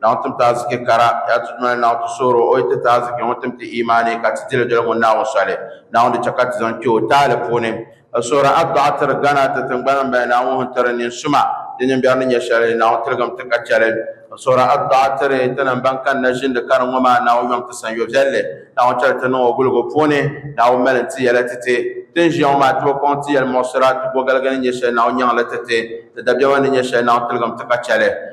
Naawuni tim ti aziki kara, ya ti dunia ni Naawuni ti soori o, o yi ti ti aziki ŋɔ tim ti imaani ka ti dili doli ŋun Naawuni soli Naawuni di chɛ ka ti zaŋ kpe o taali puuni. Ka soori adduɣa tiri Ghana ti tiŋgbani m-bala Naawuni hini tiri nin suma di nimbɛri ni nyɛ shɛli Naawuni tiligim ti ka chɛli. Ka soori adduɣa tiri tinim ban kanna ʒindi kani ŋɔ maa Naawuni yom ti san yoviɛlli Naawuni chɛli ti niŋ o guligu puuni Naawuni mali n ti yɛla ti ti ti n ʒiya ŋɔ maa ti bi kɔŋ ti yɛlimuɣisira ti bogaligi ni nyɛ shɛli Naawuni nyaŋ li ti ti ti dabiɛma ni nyɛ shɛli Naawuni tiligim ti ka chɛli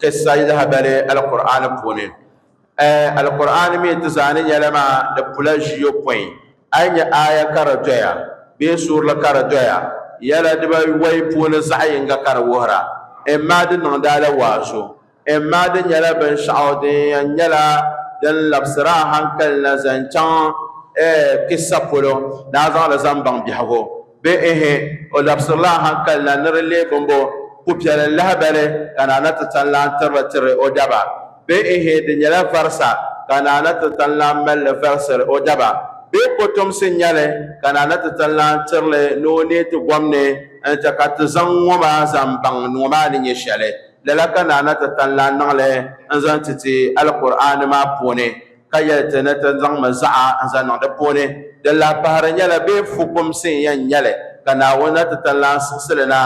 kissa lahabali alkur'ani puuni eh, alkur'ani mi ti zaani nyɛla maa di pula ʒiyɔpɔin a yi nyɛ aya ka di doya bee suurili ka di doya yɛla dibawɔi puuni zaɣ yinga ka di wuhira imma di niŋdaala waazu imma di nyɛla binshɛɣu din yɛn nyɛla din labisira hankali na zaŋ chaŋ eh, kissa polo ni a zaŋli zaŋ baŋ biɛhigu Bihi, o labisirila a hankali na ni di leei bimbo pupiɛlli lahibali ka Naana Titanlaan tirili tiri o daba. Bihi, di nyɛla varisa ka Naana Titanlaan mali li varisiri o daba. Bee kotomsi n-nyɛ li ka Naana Titanlaan tiri li ni o neei ti gom ni n-chɛ ka ti zaŋ ŋɔ maa zaŋ baŋ ni ŋɔ maa ni nyɛ shɛli? Lala ka Naana Titanlaan niŋ li n-zaŋ ti ti Alkur'aani maa puuni. ka yɛli ti ni ti zaŋmi zaɣa n-zaŋ niŋ di puuni, din lahi pahiri nyɛla bɛ fukumsi n-yɛn nyɛ li, ka Naawuni na ti tan lahi siɣisi li na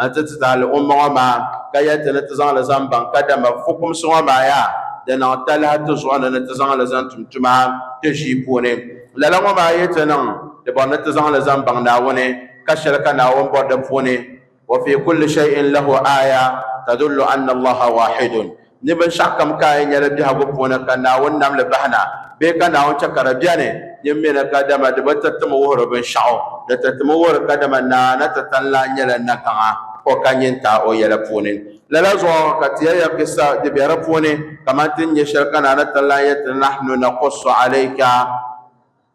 nti ti tahili umma ŋɔ maa, ka yɛli ti ni ti zaŋ li zaŋ baŋ kadama fukumsi ŋɔ maa yaa di niŋ talahi ti zuɣu ni ni ti zaŋ li zaŋ tum tuma ti ʒii puuni. Lala ŋɔ maa yi ti niŋ, di bɔri ni ti zaŋ li zaŋ baŋ Naawuni, ka shɛli ka Naawuni bɔri di puuni. wa fi kulli shay'in lahu aya tadullu anna Allaha waahidun ni binshɛɣu kam ka yi nyɛli biɛhigu puuni ka Naawuni nam li bahina bee ka Naawuni chɛ ka di bɛni din mi ni kadama di bi ti tim wuhiri binshɛɣu di ti timi wuhiri kadama naa ni ti tani lan nyɛla nagaŋa o ka nyin taai o yɛla puuni. Lala zuɣu ka ti ya ya kissa di be di puuni kaman ti ni nya shɛli ka naa ni tani lan yɛli ti ni, Nahnu naqussu alayka.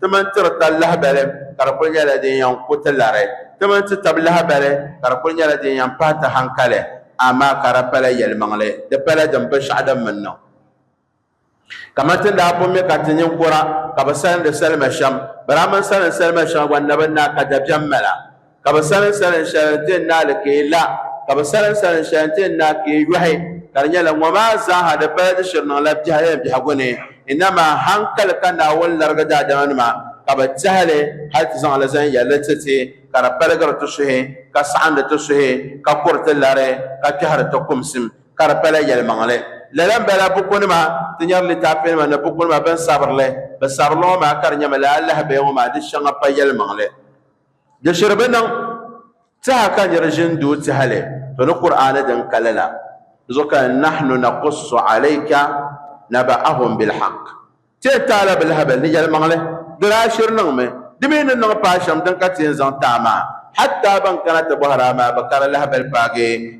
Ti mani ti di ta lahibali ka di kul nyɛla din yɛn ku ti lari. Ti mani ti tab lahibali ka di kul nyɛla din yɛn pahi ti haŋkali. Amaa ka di pala yɛlimaŋli, di pala din binshɛɣu din mi niŋ. Kaman ti ni daa bo mi ka ti ninkura ka bɛ salindi salima shɛm, bɛ daa mani salindi salima shɛŋa gba ni bɛ ni daa ka dabiɛm mala. Ka bɛ salim salim shɛli nti n naali ka yi la, ka bɛ salim salim shɛli nti n naai ka yi yɔhi, ka di nyɛla, Ŋɔ maa zaaha di pala di shiri niŋla biɛhigu ni biɛhigu ni, inama haŋkali ka Naawuni larigi daadamanima ka bɛ tehi li hal ti zaŋ li zaŋ yɛli li ti ti, ka di paligiri ti suhi, ka saɣindi ti suhi, ka kuri ti lari, ka kpɛhiri ti kumsim, ka di pala yɛlimaŋli. Lala m-bala bukunima, Ti nyari litaafinima ni bukunima bɛn sabiri li, bɛ sabiri li ŋɔ maa ka di nyɛmi lala alahibeya ŋɔ maa di shɛŋa pa yɛlimaŋli. Di shiri bi niŋ tɛha ka nir ʒin doo tɛhili to ni Kur'aani din kali la zuɣu ka nahnu nakussu alayka naba'ahum bilhaq. Ti yɛn taai la bi lahabali ni yɛlimaŋli, di daa shiri niŋmi, di mi ni niŋ paai shɛm din ka ti yɛn zaŋ taai maa, hatta ban kana ti bɔhir a maa bi kari lahibali paagi.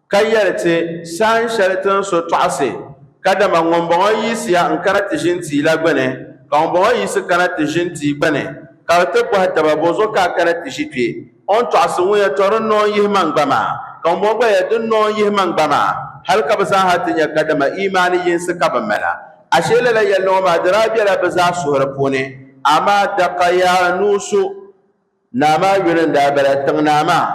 Ka yɛli ti, Sahin shɛli ti ni so tɔɣisi, kadama ŋumbɔŋɔ yiɣisiya n-kana ti ʒini tia la gbini, ka ŋumbɔŋɔ yiɣisi kana ti ʒini tia gbini, ka bɛ ti bɔhi taba, Bɔzɔ ka a kana ti ʒi kpe? O ni tɔɣisi ŋun yɛtɔ, Di noo n-yihi ma n-gba maa, ka ŋumbɔŋɔ gba yɛli, Di noo n-yihi ma n-gba maa, hal ka bɛ zaaha ti nya kadama imaani yinsi ka bɛ mala. Ashee lala yɛlli ŋɔ maa di daa bela bɛ zaa suhuri puuni, amaa daka yaa nuu so. Naa maa yuli n-daa bala, Tiŋnaa maa,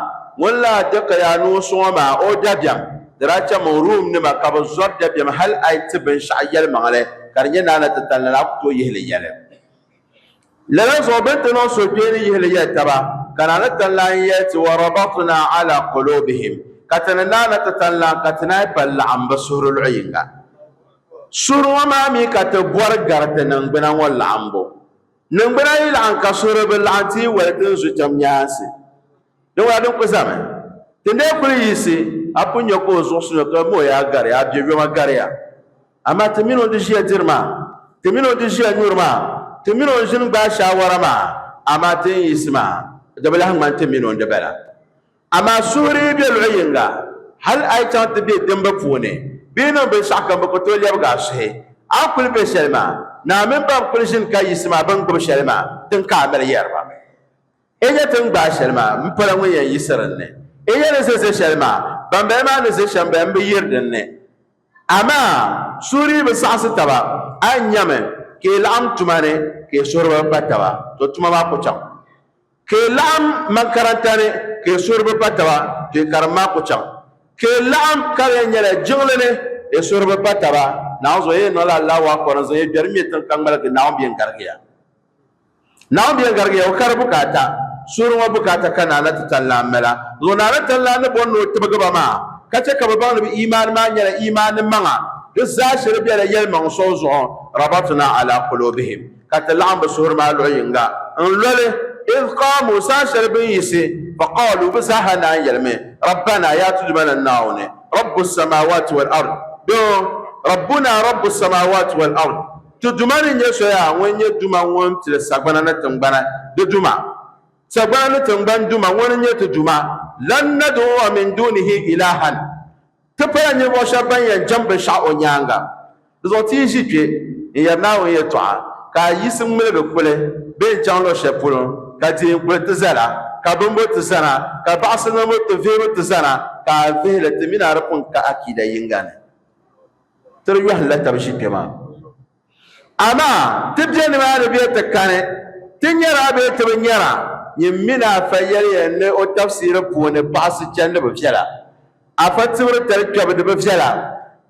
ŋun lahi di ka yaa ni o sɔŋ o maa o dabiɛm, di daa cham o Rum nima ka bɛ zɔri dabiɛm hal a yi ti binshɛɣu yɛlimaŋli ka di nyɛ naa ni ti tali ni a ku tooi yihi li yɛli. Lala zuɣu bɛ ni ti niŋ suhukpeeni yihi li yɛli taba, ka naa ni tali lan yɛli ti, Wa rabatna ala qulubihim, ka ti ni naa ni ti tali lan ka ti naai pali laɣim bɛ suhuri luɣ yiŋga. Suhuri ŋɔ maa mi ka ti bɔri gari ti niŋgbuna ŋɔ laɣimbu. Niŋgbuna yi laɣim ka suhuri bi laɣim ti yi wali ti ni zu cham nyaansi. Di ŋuna din kuli zami. Ti ni daa kuli yiɣisi a pun nya ka o zuɣu suno ka mɔɣu yaa gari a biɛ yoma gari ya. Amaa ti min o ni di ʒiya diri maa, ti min o ni di ʒiya nyuri maa, ti min o ni ʒini gbaai shaawara maa, amaa ti ni yiɣisi maa di bi lahi ŋmani ti min o ni di bala. Amaa suhuri be luɣ yiŋga, hal a yi chaŋ ti be dimbu puuni bee niŋ binshɛɣu kam, bɛ ku tooi lɛbigi a suhi. A ni kul be shɛli maa, naa mini ba n-kul ʒini ka yiɣisi ma bɛ ni gbibi shɛli maa tiŋ ka a mali yɛri ba, N nya ti ni gbaai shɛli maa, m pala ŋun yɛn yiɣisi din ni. N nya ni ʒe ʒe shɛli maa, bambaya maa ni ʒe shɛm baya m-bi yiri din ni. Amaa suhuri bi saɣisi taba. A nyami ka yi laɣim tuma ni ka yi suhuri bi pa taba, to tuma maa ku chaŋ. Ka yi laɣim makaranta ni ka yi suhuri bi pa taba, to yi karim maa ku chaŋ. Ka yi laɣim ka di yɛn nyɛla jiŋli ni yi suhuri bi pa taba, Naawuni zuɣu yi yɛn niŋla Allahu Akbar n-zaŋ yi biɛri ŋme tiŋ ka ŋmaligi Naawuni bɛ yɛn garigi ya. Naawuni bɛ yɛn garigi ya, O kari bukaata. Suhuri ŋɔ bukaata ka Naana ti Tanlaan mala. Dinzuɣu Naana Tanlaan ni bɔri ni o tibigi ba maa, ka chɛ ka bɛ baŋ ni bɛ imaani maa nyɛla imaani maŋa, di zaa shiri bela yɛlimaŋ so zuɣu, Rabatna ala qulubihim, ka ti laɣim bɛ suhuri maa luɣ yiŋga n-loli, idh qaamu, saha shɛli bɛ ni yiɣisi, fa qaalu, bɛ zaa ha naan yɛlimi, Rabbanaa, yaa tudu ma ni Naawuni, Rabbu s-samaawaati wal-ard, bee Rabbunaa Rabbu s-samaawaati wal-ard, ti Duuma ni nyɛ soya ŋun nyɛ Duuma ŋun pili sagbana ni tiŋgbana di Duuma, sagbana ni tiŋgbani Duuma, ŋuni n-nyɛ ti Duuma, lan nad'uwa min duunihi ilaahan, Ti pala ninvuɣ shɛb bɛn yɛn jɛm binshɛɣu o nyaaŋa. Di zuɣu ti yi ʒi kpe n-yɛri Naawuni yɛtɔɣa, ka a yiɣisi ŋmiligi kuli be n chaŋ luɣ shɛli polo, ka dihin kuli ti zala, ka bimbu ti zana, ka baɣisi niŋbu ti vihibu ti zana, ka a vihi li, ti mi ni a di pun ka akiida yiŋga ni ti di yɔhindila tab ʒi kpe maa. Amaa ti be nimaani bee ti kani, ti nyara bee ti bi nyara, nyin min a Afa yɛliya n-li o tafsiri puuni baɣisi chandiba viɛla, Afa tibiri tali kpɛbu di bi viɛla.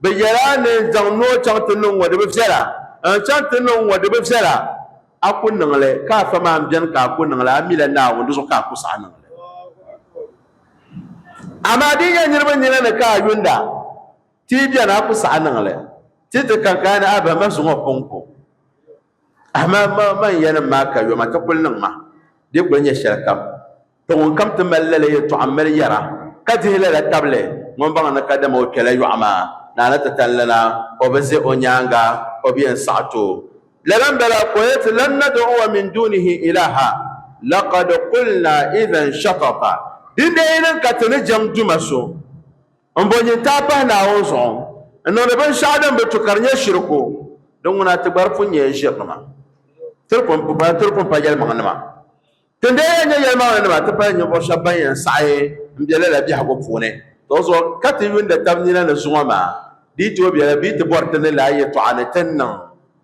Bɛ yɛli a ni zaŋ noo chaŋ ti niŋ ŋɔ di bi viɛla, n-zaŋ chaŋ ti niŋ ŋɔ di bi viɛla, a ku niŋ li, ka Afa maa m-beni ka a ku niŋ li, a mila Naawuni, di zuɣu ka a ku saɣi niŋ li. Amaa di yi nyɛ niriba nina ni ka a yuunda. Ti yi beni a ku saɣi niŋ li ti ti ka gaa ni a bahi ma zuŋɔ pun ku a ma ma ma n yanim maa ka yoma ti kuli niŋ ma di kuli nyɛ shɛli kam ti ŋun kam ti mali lala yɛtɔɣa m-mali yɛra ka dihi lala tabili ŋun baŋ ni ka dama o kpɛla yɔɣu maa ni a ni ti tanlina o bi ʒe o nyaaŋa o bi yɛn saɣi ti o lala m-bala ka o yɛti lan nad'uwa min dunihi ilaha laqad qulna idhan shatata dindee yi niŋ ka ti ni jɛm duma so M bo nyin taai pahi Naawuni zuɣu n niŋdi binshɛɣu din bi tu ka di nyɛ shiriku, di ŋuna ti gba di pun nyɛla ʒirinima. Ti di pun pa, ti di pun pa yɛlimaŋnima. Ti n-daa yɛn nyɛ yɛlimaŋlinima ti pahi ninvuɣu shɛba ban yɛn saɣi m-be lala biɛhigu puuni tɔɣuzuɣu ka ti yuunda tab nina ni zuŋɔ maa, di yi tooi bela bɛ yi ti bɔri ti ni lahi yɛtɔɣa ni ti ni niŋ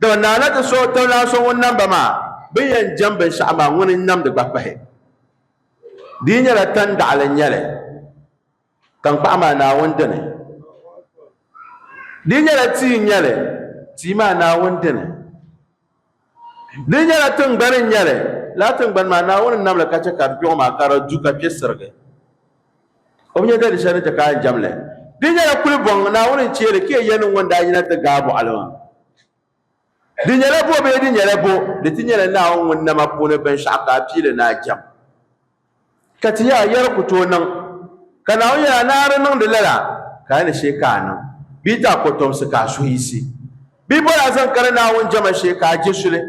Dama Naa na ti suhi tiŋlana so ŋun nam ba maa bɛ yɛn jɛm binshɛɣu maa, ŋuni n-namdi gba pahi. Di yi nyɛla tandaɣili n-nyɛ li, taŋkpaɣu maa Naawuni dini. Di yi nyɛla tia n-nyɛ li, tia maa Naawuni dini. Di yi nyɛla tiŋgbani n-nyɛ li, lala tiŋgbani maa Naawuni n-nam li ka chɛ ka di kpiɔŋ maa ka di du ka kpe sirigi. O bi nya ka di shɛli ni ti ka a jɛm li. Di nyɛla kuli bɔŋ Naawuni n-chie li ka yɛli ni ŋun daa yina ti ga a bɔɣili maa. Di nyɛla bo bee di nyɛla bo, di ti nyɛla Naawuni ŋun nam a puuni binshɛɣu ka a pii li ni a jɛm. Ka ti nya a yɛri ku tooi niŋ. Ka Naawuni yɛli a, Naara niŋdi lala, ka a ni shee ka a niŋ, bee ti a kɔtomsi ka a suhu yiɣisi. Bee boli a zaŋ kani Naawuni jɛma shee ka a je suli,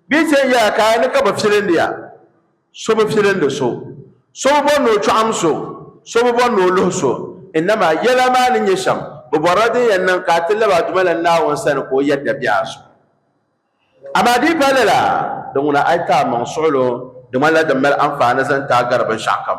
bee ti yɛn yɛli a ka a ni ka bi filindi a. So bi filindi so, so bi bɔri ni o chɔɣim so, so bi bɔri ni o luhi so, inama yɛla maa ni nyɛ shɛm, bɛ bɔrila din yɛn niŋ ka a ti lab a dumalana Naawuni sani ka o yɛri dabiɛh a zuɣu. Amaa di yi pahi lala, di ŋuna a yi ti amaŋ suɣulo di ŋmanila din mali anfaani zaŋ ti a gari binshɛɣukam,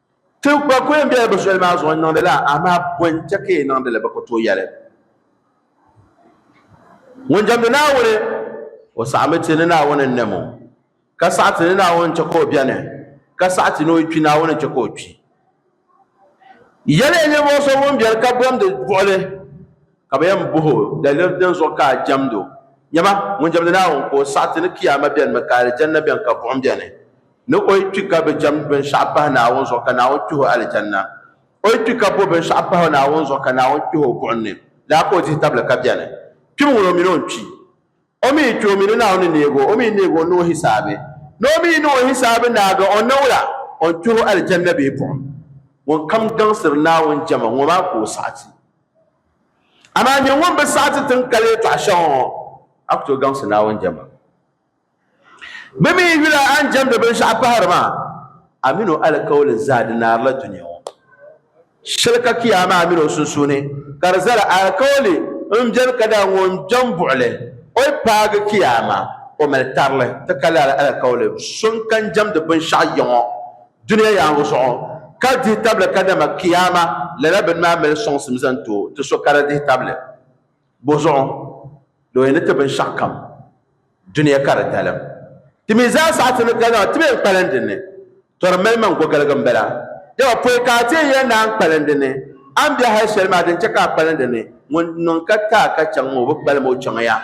Ti gba ku yɛn bela bɛ soli maa zuɣu n-niŋdi li a, amaa bɔ n-chɛ ka yi niŋdi li? Bɛ ku tooi yɛli, Ŋun jɛmdi Naawuni, o saɣimi ti ni Naawuni n-nɛm o, ka saɣi ti ni Naawuni n-chɛ ka o beni, ka saɣi ti ni o kpi Naawuni n-chɛ ka o kpi. Yɛliya ninvuɣ so ŋun beni ka bɔndi buɣili. Ka bɛ yɛn bɔh o daliri din zuɣu ka a jɛmd o, Nyama, ŋun jɛmdi Naawuni ka o saɣiti ni Kiyaama bɛnimi ka Alijanna bɛni ka buɣim bɛni? Ni o yi kpi ka bi jɛmd binshɛɣu pahi Naawuni zuɣu ka Naawuni kpih o Alijanna, o yi kpi ka bo binshɛɣu pahi o Naawuni zuɣu ka Naawuni kpih o buɣim ni, lala ka o dihi tabili ka bɛni? Kpimi ŋun o min o ni kpi. O mi kpe o mi ni Naawuni ni neeg o, o mi ni neeg o n-niŋ o hisaabi. Ni o mi yi niŋ o hisaabi naagi, o niŋla o ni kpih o Aljanna bee buɣim. Ŋunkam gaŋsiri Naawuni jɛma, ŋɔ maa ka o saɣi ti. Amaa nyini ŋun bi saɣi ti tin kali yɛtɔɣ shɛŋa ŋɔ, a ku tooi gaŋsi Naawuni jɛma. Bɛ mi yula a ni jɛmdi binshɛɣu pahiri maa, a min o alikauli zaa di naarila dunia ŋɔ. Shɛli ka Kiyaama a mini o sunsuuni ka di zala alikauli m-beni ka daa ŋun bɛn buɣi li o yi paagi Kiyaama o mali tarili ti ka lala alikauli. So n-kan jɛmdi binshɛɣu yiŋɔ dunia yaaŋa zuɣu ka dihi tabili ka dama Kiyaama lala bini maa mali sɔŋsim zaŋ ti o ti so ka di dihi tabili. Bɔzuɣu, looya ni ti binshɛɣu kam dunia ka di dalim. Ti mi zaa saha ti ni ka zaŋ ti mi n-kpalim di ni. Tɔ di mali man gɔgiligi m-bala. Dama pɔi ka a ti yɛn naai n-kpalim di ni. A ni be hal shɛli maa din chɛ ka a kpalim di ni, ŋun niŋ ka ti a ka chaŋ ŋɔ, o bi kpalim o chaŋ ya.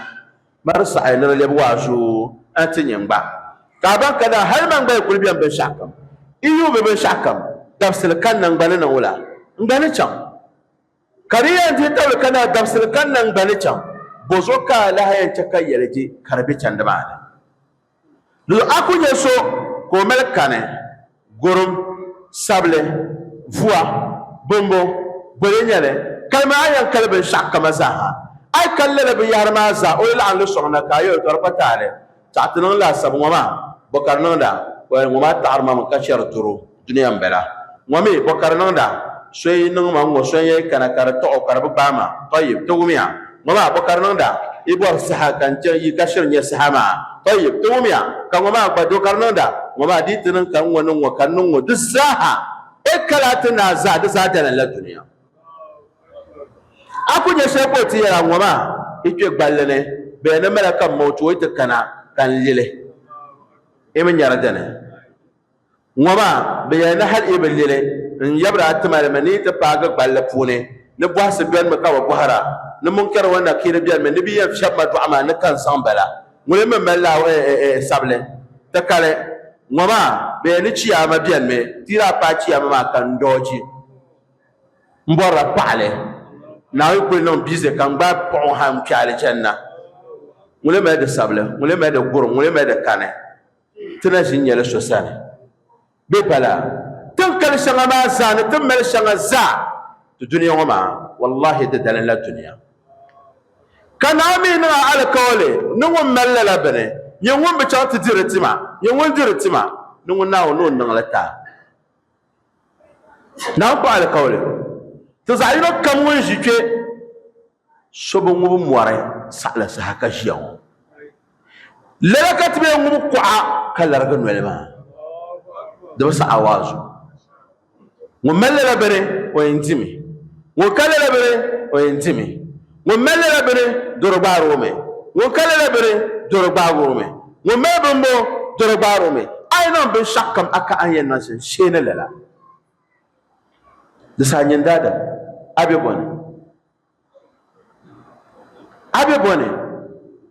Mari saɣi ni di lɛbi waa zuyu a ti nya n-gba. Ka a baŋ ka daa hal man gba yi kul bɛm binshɛɣu kam, yi yuui mi binshɛɣu kam dabisili ka n na n-gba ni niŋ wula? N gba ni chaŋ. Ka di yɛn dihi tabili ka naa dabisili gani nangbani chaŋ, bɔzuɣu ka a lahi yɛn chɛ ka yɛligi ka di be chandi maa ni? Lala a ku nya so ka o mali kani, gurim, sabili, vua, bimbo, boli nyɛli, kalimi a yɛn kali binshɛɣukama zaaha. A yi kali lala binyɛhiri maa zaa, o yi laɣim li sɔŋ na ka a yɛltɔri kpa taali. Taɣi ti niŋ laasabu ŋɔ maa, bɔkari niŋda, well ŋɔ maa taɣiri ma mi ka chɛri doro, dunia n bala. Ŋɔ mi, bɔkari niŋda, so yi niŋ ma ŋɔ so n yɛn kana ka di taɣi o ka di bi gbaai ma, tɔyib, ti wumiya. Ŋɔ maa, bɔkari niŋda, yi bɔri saha ka n chɛ yi ka shiri nyɛ saha maa, tɔyib, ti wumiya. Ka ŋɔ maa gba, dokari niŋda, ŋɔ maa dii ti niŋ ka n ŋɔ niŋ ŋɔ ka n niŋ ŋɔ di zaa ha, e ka laa ti naai zaa di zaa dala n la dunia. a ku nyɛ shɛli ka o ti yɛra ŋɔ maa i kpe gballi ni bɛ yɛn ni mala ka m ma o ti o yi ti kana ka n lili i mi nyari dini ŋɔ maa bɛ yɛli ni hal i bi lili n yabira a ti mali mi ni yi ti paagi gballi puuni ni bɔhisi benimi ka bɛ bɔhira ni munkɛri wan nakiiri benimi ni bɛ yɛn fiɛbi ma dɔɣi maa ni ka n zaŋ bala ŋuni mi mali la sabili ti kali ŋɔ maa bɛ yɛli ni chiyaama benimi ti yi daa paai chiyaama maa ka n doochi N bɔrila paɣili, Naawuni kuli niŋ biize ka n gbaai paɣ o ha n kpe alijanna. Ŋun lee mali di sabili? Ŋun lee mali di guri? Ŋun lee mali di kani? Ti na ʒi nyɛli so sani. Bɛ pala tin kali shɛŋa maa zaa ni tin mali shɛŋa zaa ti dunia ŋɔ maa, wallahi di dalinla dunia. Ka Naa mi niŋ a alikauli ni ŋun mali lala bini, Nyɛ ŋun bi chaŋ ti diri ti ma, nyɛ ŋun diri ti ma, ni ŋun Naawuni ni o niŋ li ti a. Naa kpa alikauli ti zaɣ yino kam ŋun ʒi kpe so bi ŋubi mɔri saɣila saha ka ʒiya ŋɔ. Lala ka ti bee ŋubi kuɣa ka larigi noli maa. Di bi saɣi a waazu. Ŋun mali lala bini o yɛn dimi, ŋun ka lala bini o yɛn dimi. Ŋun mali lala bini doro gbaar o mi, ŋun ka lala bini doro gbaag o mi, ŋun mali bimbɔŋ doro gbaar o mi. A yi niŋ binshɛɣ kam a ka a ni yɛn niŋ shɛm shee ni lala. Di saha nyin daadam, a be bɔ ni? A be bɔ ni?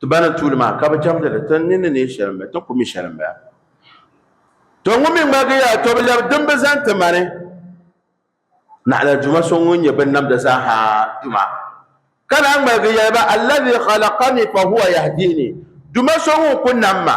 Ti ba ni tuuli maa, ka bɛ chɛmdi li, ti ni ni neei shɛli m-bala, ti ku mi shɛli m-bala. Tɔ ŋun mi ŋmaligi ya, tɔ bi lɛbi din bi zani ti ma ni naɣila Duuma so ŋun nyɛ binnamda zaaha Duuma, ka naan ŋmaligi yɛli ba, Alladhi khalaqani fahuwa yahdiini, Duuma so ŋun ku nam ma,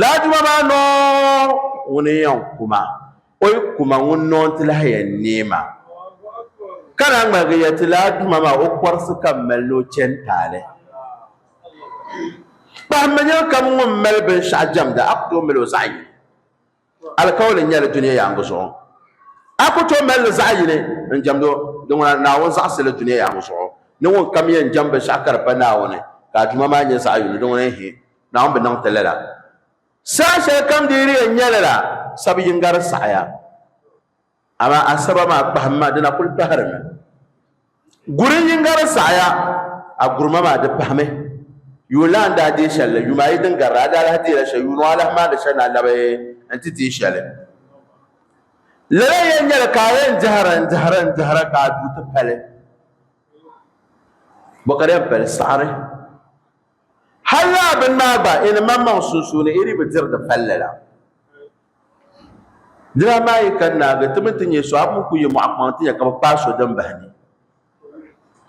Laaduma maa noon ŋuni n-yɛn kuma, o yi kuma ŋun noon ti lahi yɛn neei maa, ka naan ŋmaligi yɛli ti Laaduma maa o kɔrisi ka m mali ni o chani taali. Kpahimmi nir kam ŋun mali binshɛɣu jɛmda, a ku tooi mali o zaɣ yini. Alikauli n-nyɛ li dunia yaaŋa zuɣu. A ku tooi mali li zaɣ yini n-jɛmd o, di ŋuna Naawuni zaɣisi li dunia yaaŋa zuɣu ni ŋun kam yɛn jɛm binshɛɣu ka di pa Naawuni, ka a Duuma maa nyɛ zaɣ yini, di ŋuna ehe. Naawuni bi niŋ ti lala. Saha shɛli kam di yi di yɛn nya lala, sab yiŋga di saɣiya. Amaa Asaba maa kpahim ma, di na kul pahirimi. Guri yiŋga di saɣiya, a gurima maa di pahimi. Yuunlan daa deei shɛli la, yumaayi din garila, a daa lahi deeila shɛli, yuun a lahi maandi shɛli ni a labi nti deei shɛli. Lala yɛn nyɛli ka a yɛn dihira n-dihira n-dihira ka a du ti pali. Bɔ ka di yɛn pali saɣiri. Hal lala bini maa gba, yi ni maŋmaŋ sunsuuni yi dii bi diri di palli la. Dina amaa yi kani naagi ti mi ti nya so, a pun ku yi mɔɣu kpaŋ ti nya ka bɛ kpaai so din bahi ni.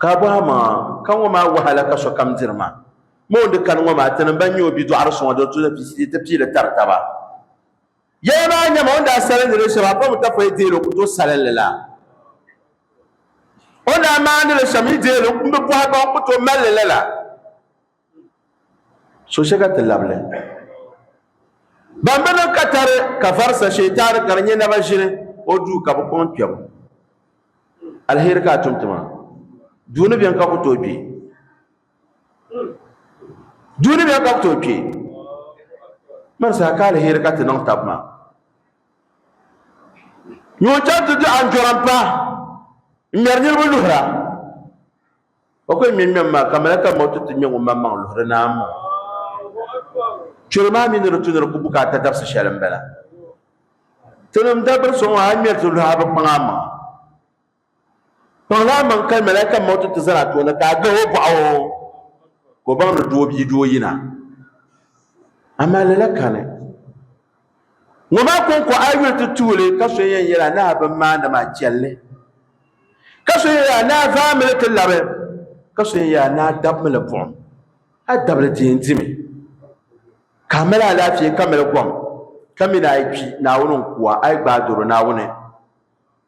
Ka a bɔhi a maŋa, Ka ŋɔ maa wahala ka sokam diri maa? Moon di kani ŋɔ maa, tinim bɛn nyɛ o bidɔɣiri so ŋɔ, di tuhi ti pii li tari taba. Yɛla maa nyɛma o ni daa salindi li shɛm a pam tafɔya deei li o ku tooi salin li la. O ni daa maandi li shɛm yi deei li n bi bɔhi gba o ku tooi mali li la la. So shɛ ka ti labili ban bi niŋ katari ka varisa Sheetani ka di nyɛ naba ʒini o duu ka bi kɔŋ kpɛbu. Alheri ka a tum ti ma. Duu ni beni ka ku tooi kpi. duuniya ka bi tooi kpɛ mani saha ka alheri ka ti niŋ tabi maa ŋun chɛŋ ti di anjɔra n pahi n ŋmɛri niraba luhura o ko ŋmɛ ŋmɛm maa ka malaka ŋɔ ti ti ŋmɛ ŋun maŋmaŋ luhuri naa maa chɛli maa mii ni di tu ni di ku bukaata dabisi shɛli n bala tinim dabiri so ŋɔ a ŋmɛri ti luhi a bi kpaŋ a maŋa Kpaŋ laa maŋ kali malaika mauti ti zali a tooni ka a gahi o bɔɣu ka o baŋ ni doo bia doo yina. Amaa lala kani ŋɔ maa kɔŋko a yuli ti tuuli ka so yɛn yɛli a ni a bin maandi maa chɛlli ka so yɛn yɛli a ni a vaami li ti labi ka so yɛn yɛli a ni a dabimi li buɣim a dabili di yɛn dimi ka a mali alaafee ka mali gɔm ka mi ni a yi kpi Naawuni n-ku a a yi gbaai doro Naawuni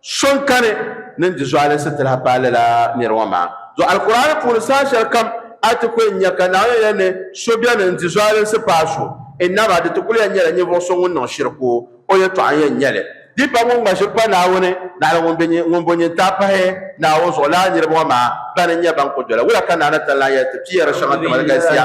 So n kani ni n di zuɣali sitira paai lala nira ŋɔ maa zuɣu. Alkur'aani puuni saha shɛli kam a ni ti ku n nya ka Naawuni yɛli ni so beni n di zualinsi paai so, innama di ti kul yɛn nyɛla ninvuɣ so ŋun niŋ shiriku o yɛtɔɣa n-yɛn nyɛ li. Di pam ŋun ŋma shiriku pa Naawuni naɣila ŋun be ŋun bo nyin taai pahi Naawuni zuɣu lala niriba ŋɔ maa bani n-nyɛ ban ku doli wula ka Naa Natan lan yɛli ti piyeri shɛŋa kamali galisiya.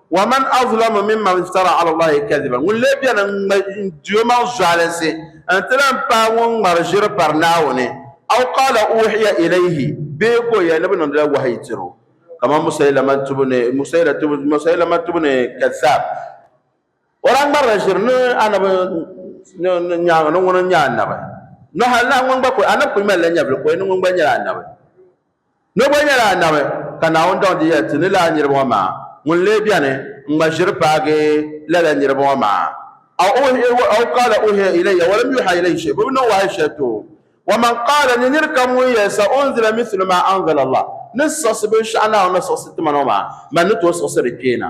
Wa man azlamu mimman iftara ala Allahi kadhiba ŋun lee beni n-di o maŋ zualisi n-ti lan paai ŋun ŋmari ʒiri pari Naawuni, aw qaala uuhiya ilayhi bee ka o yɛli ni bɛ niŋdila wahayi tir o, kaman Musaylamat ibn Kadhab. O daa ŋmarila ʒiri ni Annabi nyaaŋa ni ŋuni n-nyɛ Annabi, ni hal nahi ŋun gba kuli, Annabi kuli malila nyɛvili ka o yɛli ni ŋuni gba nyɛla Annabi. Ni bɔ nyɛla Anabi, ka Naawuni daŋ di yɛli ti ni lala niriba ŋɔ maa, ŋun lee beni n-ŋma ʒiri paagi lala niriba ŋɔ maa? Aw aw qaala uhiya ilayya walam yuha ilayhi shay, bɛ bi niŋ wahayi shɛli ti o. Wa man qaala ni nir kam ŋun yɛli sa unzila mithlu ma anzala Allah, ni siɣisi binshɛɣu Naawuni ni siɣisi ti ma ŋɔ maa, mani ni tooi siɣisi di kpee na.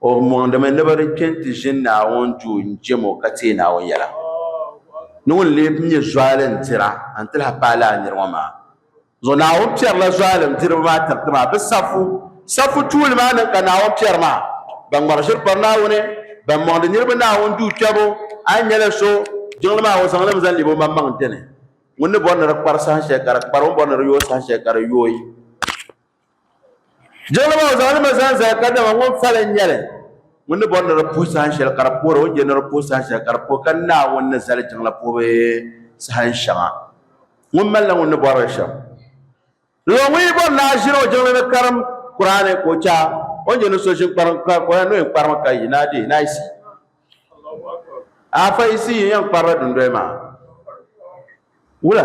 O mɔŋdimi ni bɛ di kpe nti ʒini Naawuni duu n-jɛm o ka teei Naawuni yɛla ni ŋun lee bi nyɛ zualim dira n-ti lahi paai lala nir ŋɔ maa zuɣu. Naawuni piɛrila zualim diriba maa tiriti maa bɛ safu safu tuuli maa ni ka Naawuni piɛri maa. Ban ŋmari ʒiri pari Naawuni, ban mɔŋdi niriba Naawuni duu kpiɛbu, a ni nyɛla so, jiŋli maa o zaŋ li mi zaŋ lebi o maŋmaŋ dini. Ŋun ni bɔri ni di kpari saha shɛli ka di kpari, o ni bɔri ni di yooi saha shɛli ka di yooi. Jiŋli maa o zaŋlimi zaŋ zali ka dama ŋun fali n nyɛli ŋun ni bɔri ni di puhi sahan shɛli ka di poora o ni je ni di puhi sahan shɛli ka di pooi ka Naawuni ni zali jiŋla puhibu sahan shɛŋa ŋun malila ŋun ni bɔrili shɛm lala ŋun yi bɔri ni a ʒini o jiŋli ni karim Kuraani ka o cha o ni je ni so ʒini kparim ka o yɛn ni o yɛn kparimi ka yi naa deei naayisi afa yisi yi yɛn kparila dundoya maa wula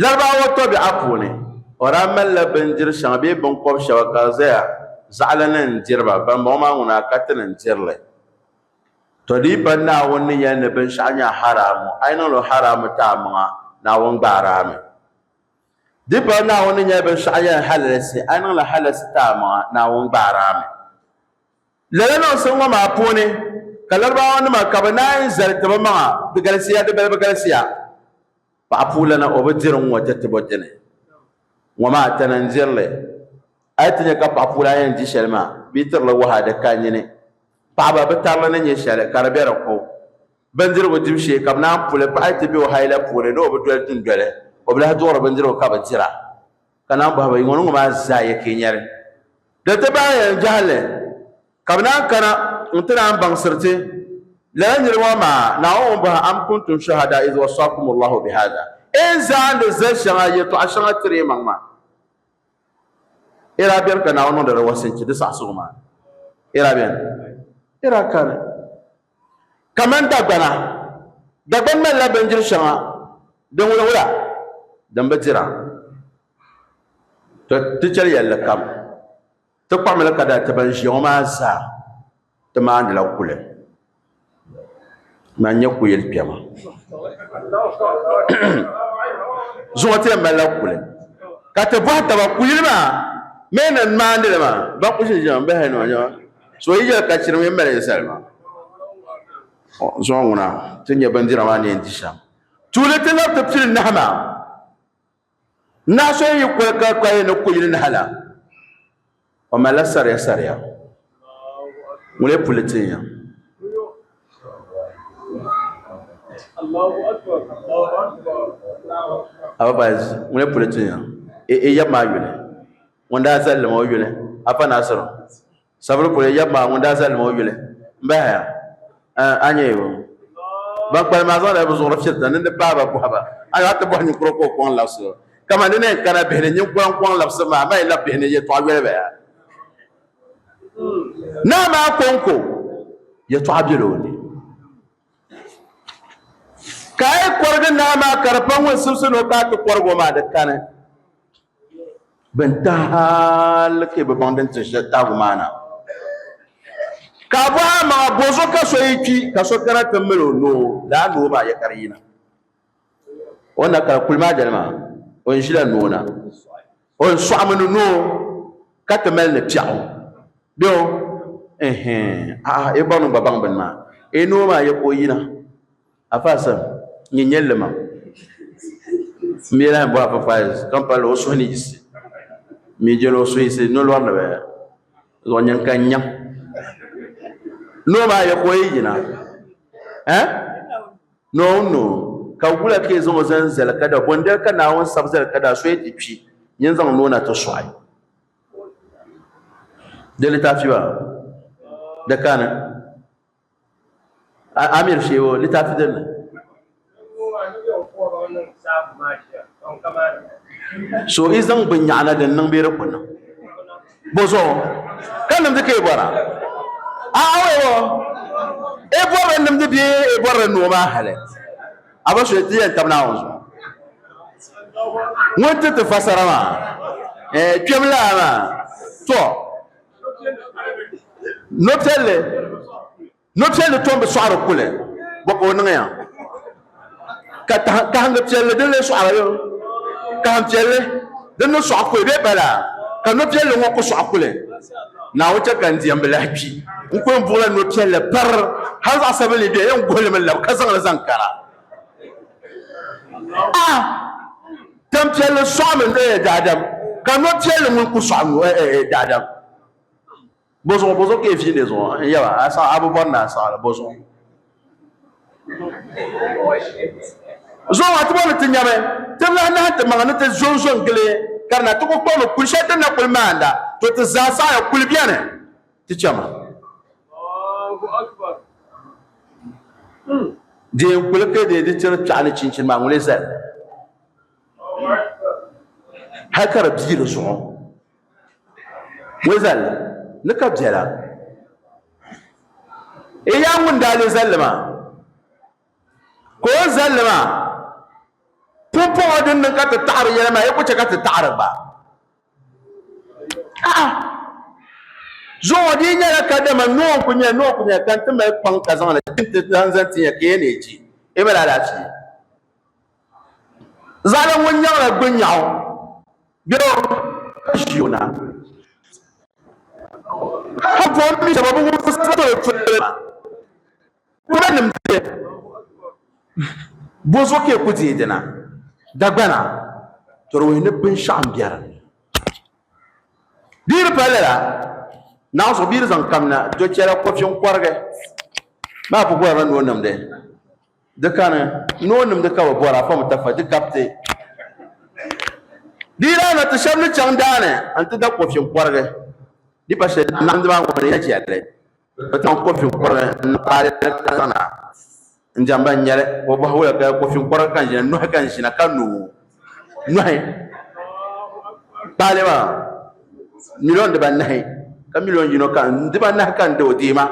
Larabawa tɔbiɛɣu puuni, o daa malila bindiri shɛŋa bee binkɔb shɛba ka di zaya zaɣili ni n-diri ba, bambɔŋɔ maa ŋuna a ka ti ni n-diri li. Tɔdiipa Naawuni ni yɛli ni binshɛɣu nyɛla haraamu, a yi niŋ li haraamu ti amaŋa, Naawuni gbaari a mi. Di pala Naawuni ni nyɛli binshɛɣu yɛli ni halalisi, a yi niŋ li halalisi ti amaŋa, Naawuni gbaari a mi. Lala niŋsim ŋɔ maa puuni ka Larabawanima ka bɛ naanyi zali ti bɛ maŋa, di galisiya di balibu galisiya. Paɣa puulana o bi diri ŋ-ŋɔ ti ti bo dini? Ŋ-ŋɔ maa tana n-diri li. A yi ti nya ka paɣa puulana yɛn di shɛli maa, bɛ yi tiri li waha di ka nyini. Paɣaba bi tari li ni nya shɛli ka di be di ko. Bindirigu dibu shee ka bɛ naan pu li. Paɣa yi ti be o haila puuni ni o bi doli dundoli, o bi lahi duɣiri bindirigu ka bi dira. Ka naan bɔhi ba, Yi ŋɔ ni ŋɔ maa zaa yɛkeenyɛri? Di ti bahi yɛn jɛhili. Ka bɛ naan kana nti naan baŋsiri ti lala nir ŋɔ maa, Naawuni ŋun bɔhi, Am kuntum shuhadaa iz wasaakum Allahu bihaadha, A yi zaandi zali shɛŋa, yɛtɔɣ shɛŋa tiri yi maŋ maa, a daa beni ka Naawuni niŋdi di wasinchi, di saɣisigu maa? A daa beni? A daa kani? Kaman dagbana, dagbani malila bindiri shɛŋa din wulawula din bi dira, to ti chɛli yɛlli kam Ti kpuɣimili ka daa ti ban ʒiya ŋɔ maa zaa ti maandila kuli man nyɛ kuyili kpɛma. Zuŋɔ ti yɛn malila kuli ka ti bɔhi taba kuyili maa mee na n-maandi li maa ba ku ʒi ʒiɛm bahi ni o nyɛma so yi yɛli ka chiri mini mali zali maa. Zuŋɔ ŋuna ti nya bindira maa ni yɛn di shɛm tuuli ti labi ti pili nahi maa. Naɣ so yi kuli ka ka yi ni kuyili nahi la, o malila sariya sariya. Ŋun lee puli tin ya? Ababayiz, ŋun lee puli tin ya? I, i yab maa yuli. Ŋun daa zali li maa, o yuli. Afa Naasir. Sabiri kuli yab maa ŋun daa zali ma o yuli m-bahaya, ah, a nyɛya o. Ban kpalim maa zaŋdila bɛ zuɣuri firi tandi ni di paai ba bɔhi ba, a daa ti bɔhi ninkura ka o kɔŋ labisi o. Kaman di ni yɛn kana bihi ni, ninkura n-kɔŋ labisi ma, amaa yi lab bihi ni yɛtɔɣa yoli ba ya. Naa maa kɔŋko yɛtɔɣa bela o ni. Ka a yi kɔrigi naa maa ka di pa ŋun simsi ni o paai ti kɔrig o maa, di kani. Bin tahi hali ka bi baŋ din ti shɛli tahigu maa na. Ka a bɔhi a maŋa bɔzuɣu ka so yi kpi ka so kana ti mali o noo laa noo maa ya ka di yina. O ni na kari kuli maa dali maa o ni ʒila noo na o ni sɔɣimi ni noo ka ti mali ni piɛɣu bɛ o ɛhɛn a'a yi bɔri ni gba baŋ bini maa e noo maa ya ka o yina. Afa Sam nyɛ nyɛlli ma mi lahi bɔ Afa Faiz ka pali o suhu ni yisi mi jɛli o suhu yisi nolɔri ni bɛ zuɣu nyin ka nyam noo maa ya ka o yi yina eh noo noo ka wula ka yi zaŋ o zani zali ka da bondali ka Naawuni sabi zali ka da so ya ti kpi nyin zaŋ noo na ti sɔɣi di litaafi ba di kani Amir Shehu o litaafi din ni. So i zaŋ bin nyaɣana din niŋ bee di ku niŋ bozuɣu ka nimdi ka i bɔra a awɛwo i bɔrili nimdi bee i bɔrili noo maa hali a ba so ti yɛn tabi naawuni zuɣu ŋun ti ti fasara maa kpɛm laa maa to Nopiɛlli nopiɛlli tom bi sɔɣiri kuli bɔ ka o niŋya ka kahiŋgi piɛlli din lee sɔɣiri yo kahin piɛlli din ni sɔɣi kuli bee bala ka nopiɛlli ŋɔ ku sɔɣi kuli naawuni chɛ ka n diɛmbi lahi kpi n kuli buɣila nopiɛlli pari hali zaɣ sabinli bɛ yɛn guhili mi labi ka zaŋli zaŋ kana a Tampiɛlli sɔɣimi daadam, ka nɔpiɛlli ŋun ku sɔɣim daadam. Bɔzuɣu, bɔzuɣu ka yi fi nɛ zuɣu n yɛba, a saɣi a bi bɔri ni a saɣi li, bɔzuɣu. Zuɣu maa ti bɔri ni ti nyami, ti bi lahi nahi ti maŋa ni ti zo n-zo n-gili, ka di na ti ku kpɔbi ni kul shɛli din na kul maanda, to ti zaa saɣiya kul beni. Ti chama. Dee n kuli ka dee di tiri piɛɣu ni chinchin maa ŋuli zali hali ka di bii di zuɣu ŋuli zali ni ka biɛla e yaa ŋun daa le zalli maa ka o zalli maa pumpɔŋɔ din niŋ ka ti taɣari yɛli maa e ku chɛ ka ti taɣari gba zuɣu di nyɛla kadama noo n ku nyɛ noo ku nyɛ ka n ti mali kpaŋ ka zaŋli ti ti zaŋ zaŋ ti nyɛ ka yɛn neei chee i mali alaafee zaɣala ŋun nyaŋla gbi nyaɣu bɛro ka ʒi o na ka buɣim mi shɛba bi wumsi salo toli ma Kula nim pili bozuɣu ka e ku deei dina dagbana tɔrɔwɛɛ ni binshɛɣu n bɛ dinni. Bia di pali lala naɣ zuɣu bia di zaŋ kamina do chɛla kɔfi n kɔrigi maa bi bɔrila ni o nimdi di kani ni o nimdi ka bi bɔra afa mi tafa di gabiti di daa na ti shɛba ni chaŋ daani n ti da kɔfi n kɔrigi di pa shɛli naɣindi maa ŋɔ ni ya chɛli. Bɛ zaŋ kofi kɔrili n paali tana n jɛm ban nyɛli o bɔhi wuya ka kofi kɔri ka ʒina nuhi ka ʒina ka no nuhi paali maa miliyon dibanahi ka miliyon yino ka dibanahi ka n di o deema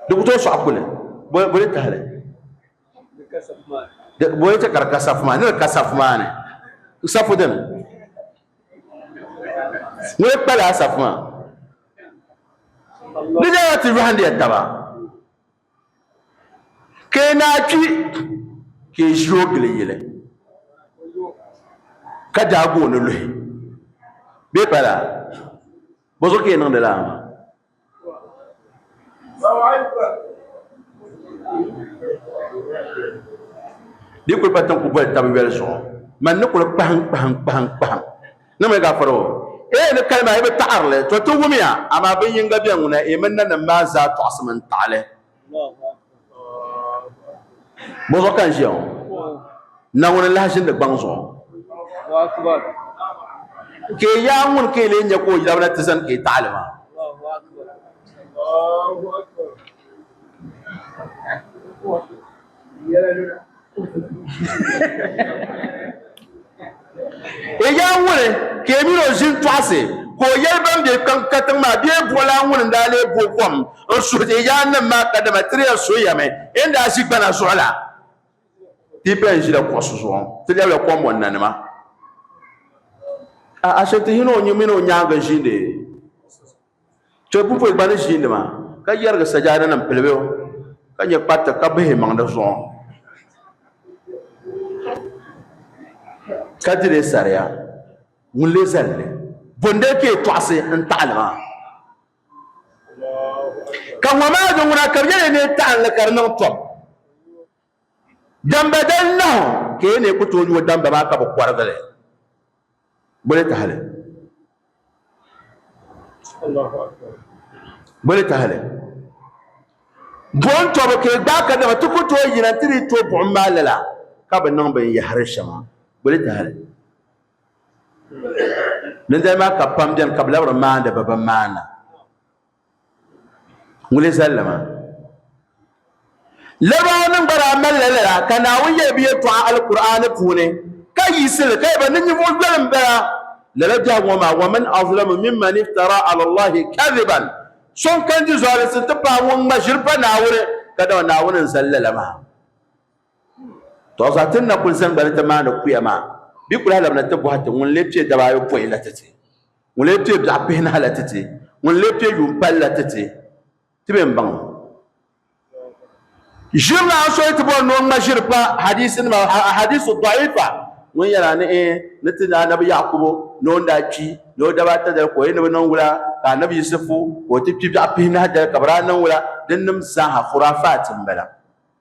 di ku tooi sɔɣi kuli boli tahali boli ti ka di ka safu maa ni di ka safu maa ni safu dini Ni di kpali asafu maa, di nyɛla ti yɔhindiya taba ka yi naa kpi ka yi ʒi o gili yili ka daagi o ni luhi bee pala bɔzuɣu ka yi niŋdi lala maa. di kuli pa tiŋ ku boli tabi yoli zuɣu man ni kuli kpahim kpahim kpahim kpahim ni mi ka faro ee ni kalima yi bi taɣarili to ti wumiya amaa bin yinga bɛ ŋuna ee mini nanim maa zaa tɔɣisimi n-taɣili Bo zuɣu ka n ʒiya ŋɔ Naawuni n lahi ʒindi gbaŋ zuɣu ka i yaai ŋuni ka i lee nya ka o yirabina ti zani ka i taɣili maa Egaa ŋuni ka yi mini o ʒin tɔɣisi, ka o yɛli bɛn be kpiɔŋ katiŋ maa bee buɣilana ŋuni n-daa lee bo kom n-suhi ti egaa nim maa kadama ti daa soya mi e ni daa ʒi gbana zuɣu la? Ti bɛn ʒila kuɣisi zuɣu ŋɔ, ti lɛbila kom ŋɔ nanima, a Ashanti yino ŋun mini o nyaaŋa ʒiindi. Chɛ pupɔi gba ni ʒiinima ka yɛrigi sajaadanima pili bɛ ka nyɛ kpariti ka bihi maŋ di zuɣu ka di li saria. Ŋun leei zali li, bondali ka yi tɔɣisi n-taɣi li maa? Ka ŋɔ maa di ŋuna ka bɛ yɛli ya ni yi taɣi li ka di niŋ tɔbu. Damba dali nahu ka yi lee ku tooi yo damba maa ka bi kɔrigi li boli tahali. Boli tahali. Buɣim tɔbu ka yi gbaai ka dama ti ku tooi yina nti dii to buɣim maa lala ka bi niŋ binyɛhiri shɛŋa boli tahali. Dindali maa ka pam beni ka bi labiri maandi bi bi maana. Ŋuni zali li maa? Larabawanima gba daa malila lala ka Naawuni yɛli bɛ yɛltɔɣa Alkur'aani puuni ka yiɣisi li ka yɛli ba, Ni ninvuɣ yoli m-bala lala biɛhigu ŋɔ maa, wa man azlamu mimman iftara ala Allahi kadhiban, So n-kani di zualisi nti pahi ŋun ŋma ʒiri pa Naawuni ka dama Naawuni n-zali lala maa. Tɔɣisa ti ni na kul zaŋ ba ni ti maani kuya maa, bɛ ku lahi labina ti bɔhi ti ŋun lee kpe daba ayopɔin la ti ti. Ŋun lee kpe biɛɣu pihinahi la titi? Ŋun lee kpe yuun pali la titi? Ti be m-baŋ o. Ʒiri la so yi ti bɔri ni o ŋma ʒiri pa hadiisinima, ahadiisu dɔɣiifa, ŋun yɛn a ni e ni ti ni Anabi Yaakubu ni o ni daa kpi ni o daba ata dali ka o yi ni bi niŋ wula ka Anabi Yisifu ka o ti kpi biɛɣu pihinahi dali ka bi daa niŋ wula, dinnim zaaha khuraafaat m-bala.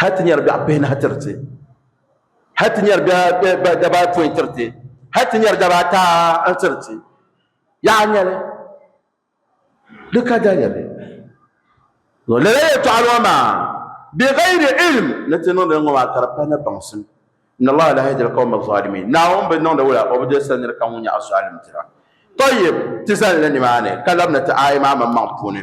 hal ti nyari biɛɣu pihinahi tiri ti hal ti nyari biɛɣu daba apoin tiri ti hal ti nyari daba ata n tiri ti yaɣa nyɛli di ka daliya bɛ yo lala yɛtɔɣa lɔ maa bi gayri ilm ni ti niŋdi ŋɔ maa ka di pa ni baŋsim in allah la yahdi alqawma zalimin naawuni bi niŋdi wula o bi dolsiri nir kam ŋun nyɛ azalim dira tɔyib ti zalila nimaani ka labina ti aaya maa maŋmaŋ puuni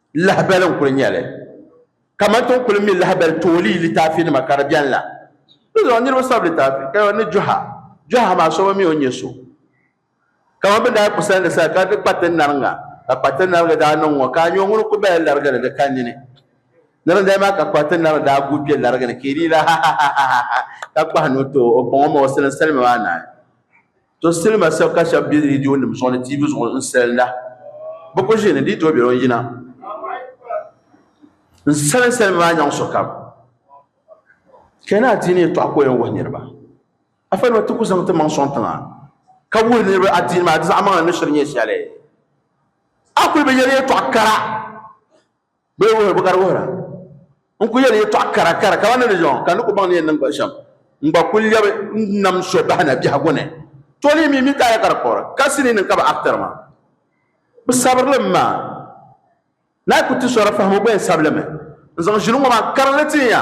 Lahabali n kuli nyɛli kamani ti ni kuli mi lahabali toolii litaafi nima ka di bɛni la. Di zuɣu niriba sabi litaafi ka ni jɔha jɔha maa so bi mi o nyɛ so kamani bini daa kusa ni sa ka di kpa ti nariŋa ka kpa ti nariŋa daa niŋ ŋɔ ka nyɔ ŋuni kuli bala larigi ni di ka nini ni di maa ka kpa ti nariŋa daa guui kpɛ larigi ni ka yi di la ha ha ha ha ha ka kpahi ni o too o kpaŋɔ ma o sili salima maa naai To silima sab ka shɛb be rediyonim zuɣu ni TV zuɣu n-salinda. Bɛ ku ʒiini di yi tooi be o ni yina n-salin salima maa nyaŋ sokam. Ka yi ni adiini yɛtɔɣa ka o yɛn wuhi niriba, a fa nima ti ku zaŋ ti maŋ sɔŋ tiŋa ka wuhi niriba adiini maa di zaɣimaŋli ni shiri nyɛ shɛli. A kuli bi yɛli yɛtɔɣ kara. Bɛ yi wuhiri bɛ gari wuhira n-kul yɛli yɛtɔɣ kara kara kaman ni di yɔŋ, ka n ni ku baŋ ni yɛn niŋ ba shɛm, n gba kul lɛbi n-nam so bahi na biɛhigu ni. To ni yi mi mi ka a ya ka di kpuɣiri ka sinii ni n ka ba aktɛr maa. Bɛ sabiri li m maa. Naa yi ku ti sɔri fahim o gba yɛn sabi li mi. N zaŋ ʒili ŋɔ maa karinli ti n ya.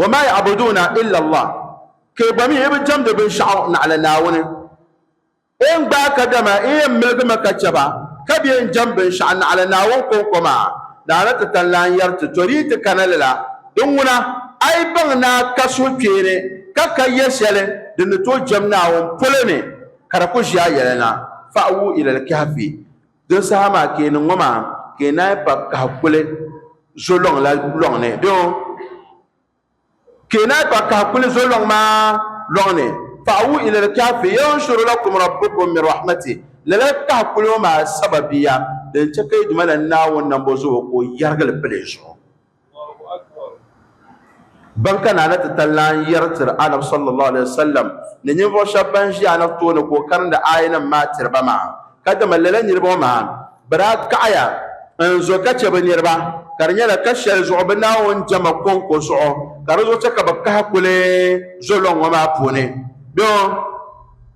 Wa ma ya'buduuna illa Allah, ka yi gba mi yi bi jɛmdi binshɛɣu naɣila Naawuni. N gbaai ka dama n yɛn miligimi ka chɛ ba, ka bɛ yɛn jɛm binshɛɣu naɣila Naawuni kɔŋko maa, daa na ti kan lan yɛri ti, To di yi ti kana lala. Di ŋuna, a yi baŋ ni a ka suhukpeeni ka ka yɛ shɛli din ni tooi jɛm Naawuni polo ni ka di ku ʒi a yɛlana, Fa'wu ila al-Kahfi, Din saha maa ka yi niŋ ŋɔ maa, ka yi naai pa kahi kuli zo lɔŋ la lɔŋ ni. Bɛ ŋɔ? Ka yi naai pa kahi kuli zo lɔŋ maa lɔŋ ni. Fa'awu ilal kahfi yanshur lakum rabbukum min rahmatih, lala kahi kuli ŋɔ maa sababiya din chɛ ka yi Duuma la Naawuni nambɔzuɣu ka o yɛrigi li pili yi zuɣu. Ban ka naana ti ta lan yɛri tiri Anabi sallallahu alaihi wasallam ni ninvuɣu shɛba ban ʒi Anabi tooni ka o karindi aayanim maa tiri ba maa, ka dama lala niriba ŋɔ maa bɛ daa kaɣiya n-zo ka chɛ bɛ niriba, ka di nyɛla ka shɛli zuɣu bɛ Naawuni jɛma kɔŋko zuɣu ka di zuɣu chɛ ka bɛ kahi kuli zo lɔŋ ŋɔ maa puuni.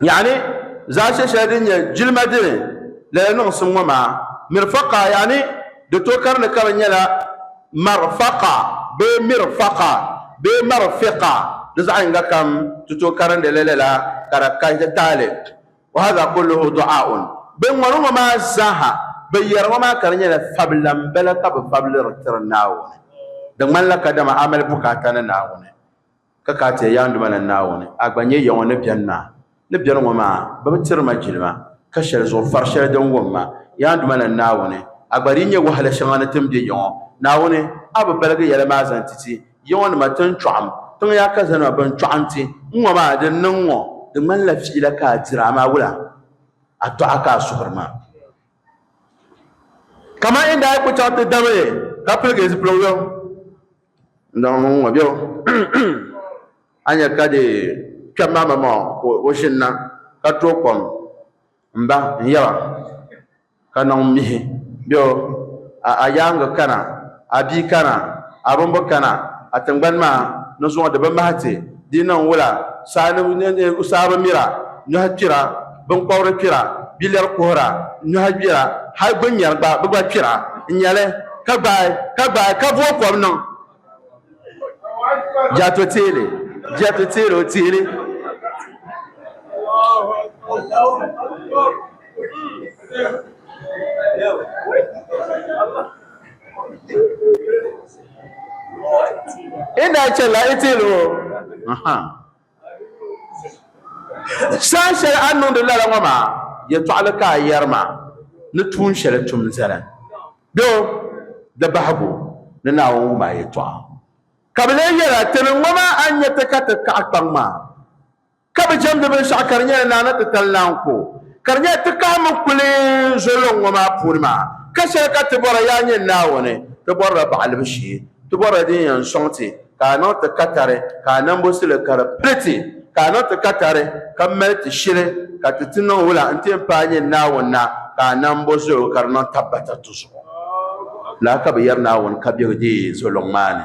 yaani zaashɛ shɛli din nyɛ jilima dini lala niŋsim ŋɔ maa mirfaqa yaani di to kari ni kari nyɛla marfaqa bee mirfaqa bee marfiqa di zaɣ yinga kam ti to karindi li lala ka di kahi ti taali wa hadha kulluhu du'aun bin ŋɔni ŋɔ maa zaaha bi yɛri ŋɔ maa ka di nyɛla fabila n bala ka bi fabili di tiri naawuni di ŋmanila kadama a mali bukaata ni naawuni Ka ka ti ya yaanduma ni Naawuni, a gba nyɛ ya ŋɔ ni beni maa. Ni beni ŋɔ maa, bɛ bi tiri ma jilima, ka shɛli zuɣu far shɛli din wum ma. Yaanduma ni Naawuni, a gba dii nyɛ wahala shɛŋa ni tin be ya ŋɔ. Naawuni, a bi baligi yɛla maa zaŋ ti ti ya ŋɔ ni ma ti n chɔɣim tiŋ ya ka zanima bɛn chɔɣi n-ti n ŋɔ maa. Din niŋ ŋɔ, di ŋmanila fiila ka a diri, amaa wula a dɔɣi ka a suhiri ma? Kaman yi ni daa kul chaŋ ti dami ka piligi zipiligu yom. Ndɔŋ mini ŋɔ bɛo a nya ka di kpɛm maa ma maa ka o ʒinna ka tooi kom m-ba n-yɛba ka niŋ mihi bɛo a yaaŋa kana a bia kana a bimbu kana a tiŋgbani maa ni zuŋɔ di bi mahi ti Di niŋ wula, saa ni saa bi mira, nyɔhi kpira, binkɔbiri kpira, bilɛri kuhira, nyɔhi gbira, hal gbinyɛri gba, bɛ gba kpira n-nya li, ka gbaai, ka gbaai, ka vooi kom niŋ. Jɛt o teeli, jɛt o teeli, o teeli. inda chɛla itilo saa shɛli a niŋdi lala ŋɔ maa yɛtɔɣali ka a yɛri maa ni tuun shɛli tum zali do di bahigu ni Naawuni wum a yɛtɔɣa ka bi lee yɛra tini ŋɔ maa a ni nyɛ ti ka ti kaɣi kpaŋ maa Ka bi jɛmdi binshɛɣu ka di nyɛla naa ni ti tali naa n-ku o. Ka di nyɛla ti kahi mi kuli n-zo lɔŋ ŋɔ maa puuni maa, ka shɛli ka ti bɔra, yaa nyini Naawuni, ti bɔrila baɣilibu shee, ti bɔrila din yɛn sɔŋ ti, ka a niŋ ti katari, ka a nambosili ka di pili ti, ka a niŋ ti katari, ka mali ti shili, ka ti ti niŋ wula n-ti n-paai a nyini Naawuni na, ka a nambozoligu ka di niŋ tabbata ti zuɣu. Lala ka bɛ yɛri Naawuni ka biɛgi deei zo lɔŋ maa ni.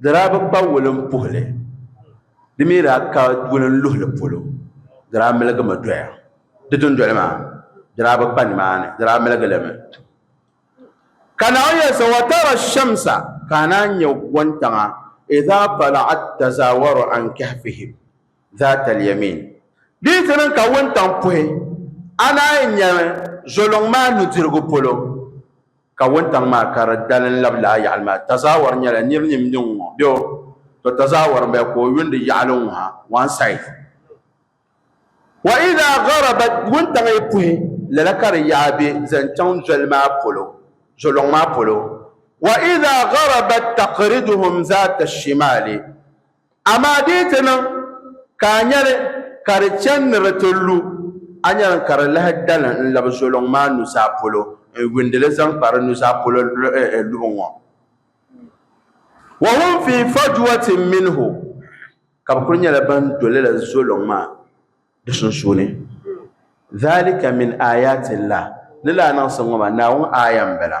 Di daa bi kpa wulinpuhili, di mi daa ka wulinluhili polo, di daa miligimi doya. Di dundoli maa, di daa bi kpa nimaani, di daa miligilimi. Ka Naawuni yɛli so, Wa tara shamsa, ka a naan nya wuntaŋa, idhaa tala'at tazaawaru an kahfihim dhaata al-yamin. Di yi ti niŋ ka wuntaŋ puhi, a naan nyami zoliŋ maa nudirigu polo, Ka wuntaŋ maa ka di dalim labi laa yaɣili maa, Tazawar nyɛla nir nim ni ŋ-ŋɔ, bɛ o, to Tazawar m-bala ka o yundi yaɣili ŋ-ŋɔ ha, one side. Wa idha gharabat, wuntaŋ yi puhi, lala ka di yaɣa bɛ zaŋ chaŋ zoli maa polo, zolɔŋ maa polo, wa idha gharabat taqriduhum zaata shimali, Amaa di yi ti niŋ ka a nya li ka di chani ni di ti lu, a nya li ka di lahi dali n-labi zoliŋ maa nuzaa polo n-yuundi li zaŋ kpa di nuzaa polo luɣ ŋɔ. Wa hum fii fajwatin minhu, ka bɛ kul nyɛla ban do lala zoliŋ maa di sunsuuni. Dhalika min aayaati llah, ni lahi niŋsim ŋɔ maa Naawuni aaya m-bala.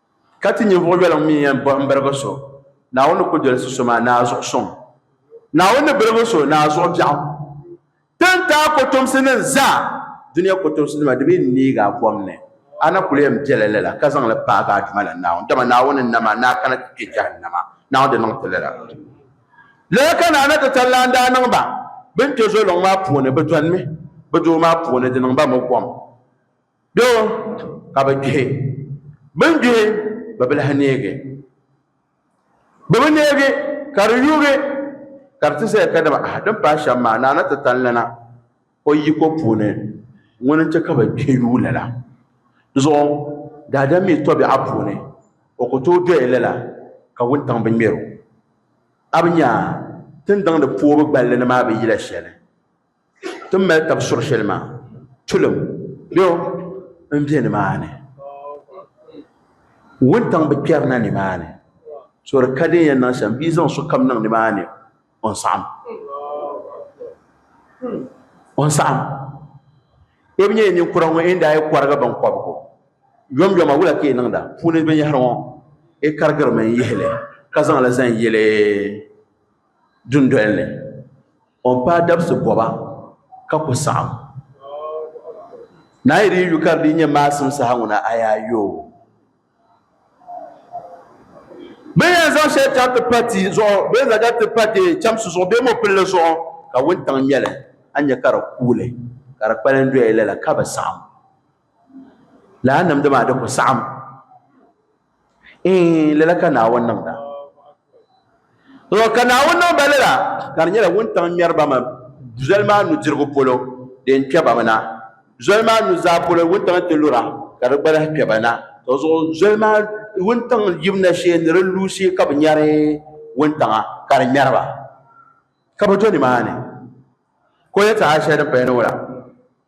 Ka ti ninvuɣ yoliŋ mi yɛn bɔhim birigu so, Naawuni ni ku dolsi so maa ni a zuɣu sɔŋ. Naawuni ni birigu so ni a zuɣu biɛɣu. Ti ni ti a kotomsinim zaa dunia kotomsinima di mi ni neeg a kom ni, a na kul yɛn bela lala ka zaŋ li paag a duuma la Naawuni, dama Naawuni n-nam a ni a kana ti kpe jahannama. Naawuni di niŋ ti lala. Lala ka Naa Natitalan daa niŋ ba bɛn kpe zoliŋ maa puuni, bɛ dɔnimi bɛ doo maa puuni, di niŋ ba mɔ kom. Doo ka bɛ gbihi. Bɛ ni gbihi bɛ bi lahi neegi. Bɛ bi neegi ka di yuugi ka di ti zaya kadama ahaa din paai shɛm maa Naana ti tani lana o yiko puuni ŋuni n-chɛ ka bɛ gbihi yuui lala zuɣu daadam mi tɔbiɛɣu puuni o ku tooi doya lala ka wuntaŋ bi ŋmɛr o. A bi nya tindaŋdi puubu gballi ni maa bi yila shɛli? ti ni mali tab suɣ shɛli maa, tulim bɛ n be nimaani. Wuntaŋ bi kpɛrina nimaani, so di ka din yɛn niŋ shɛm, bɛ yi zaŋ sokam niŋ nimaani, o ni saɣim. O ni saɣim. Yi bi nyɛ ninkura ŋɔ yi ni daa yi kɔrigi biŋkɔbigu yomyoma wula ka yi niŋda puuni binyɛhiri ŋɔ? Yi karigirimi n-yihi li ka zaŋ li zaŋ yili dundoli ni. o ni paai dabisi bɔba ka ku saɣim. Naa yi di yi yu ka di dii nyɛ maasim saha ŋuna, a yaa yo o. Bɛ ni yɛn zaŋ shɛli chaŋ ti pa ti zuɣu bee zaga ti pa ti chɛmsi zuɣu bee mɔpilli zuɣu ka wuntaŋ ŋmɛ li, a ni nya ka di kuuli ka di kpalim doya lala ka bi saɣim. Lala nimdi maa di ku saɣim. Eei, lala ka Naawuni niŋda. Tɔ, ka Naawuni niŋ ba lala, ka di nyɛla wuntaŋ ŋmɛri ba mi zoli maa nudirigu polo, di yɛn kpɛ ba mi na. Zoli maa nuzaa polo wuntaŋ nti lu ra, ka di gba lahi kpɛ ba na. Tɔ zuɣu zoli maa wuntaŋ yim na shee ni di lu shee ka bɛ nyari wuntaŋa, ka di ŋmɛri ba, ka bɛ do nimaani. Ka o yɛltɔɣa shɛli din paya ni ŋɔ la.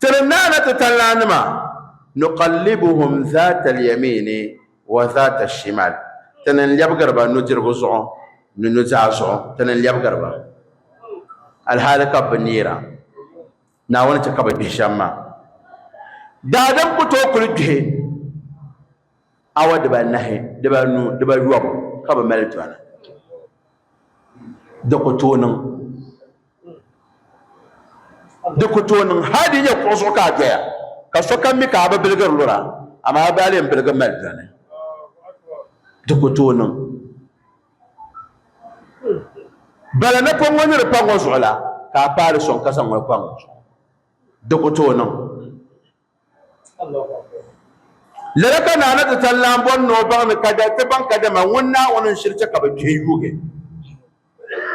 Tiri naana ti tanlanima, nuqallibuhum zaata al-yamiini wa zaata al-shimaal, Ti ni lɛbigiri ba nudirigu zuɣu ni nuzaa zuɣu, Ti ni lɛbigiri ba alhali ka bɛ bi neera Naawuni chɛ ka bɛ gbihi shɛm maa. Daadam ku tooi kuli gbihi. awa dibaanahi dibaanu dibayobu ka bi mali dɔna di ku tooi niŋ di ku tooi niŋ hali di nyɛ kuɣu zuɣu ka a doya ka sokam mi ka a bi biligiri lura amaa a baa lee n-biligi mali dɔni di ku tooi niŋ bala napɔŋ ŋɔ ni di pa ŋɔ zuɣu la ka a paai di sɔŋ ka zaŋ ŋɔ pa ŋɔ zuɣu di ku tooi niŋ Lala ka Naa na ti tan lan bɔri ni o baŋ ni kada ti baŋ kadama ŋun Naawuni n shiri chɛ ka bɛ gbihi yuugi,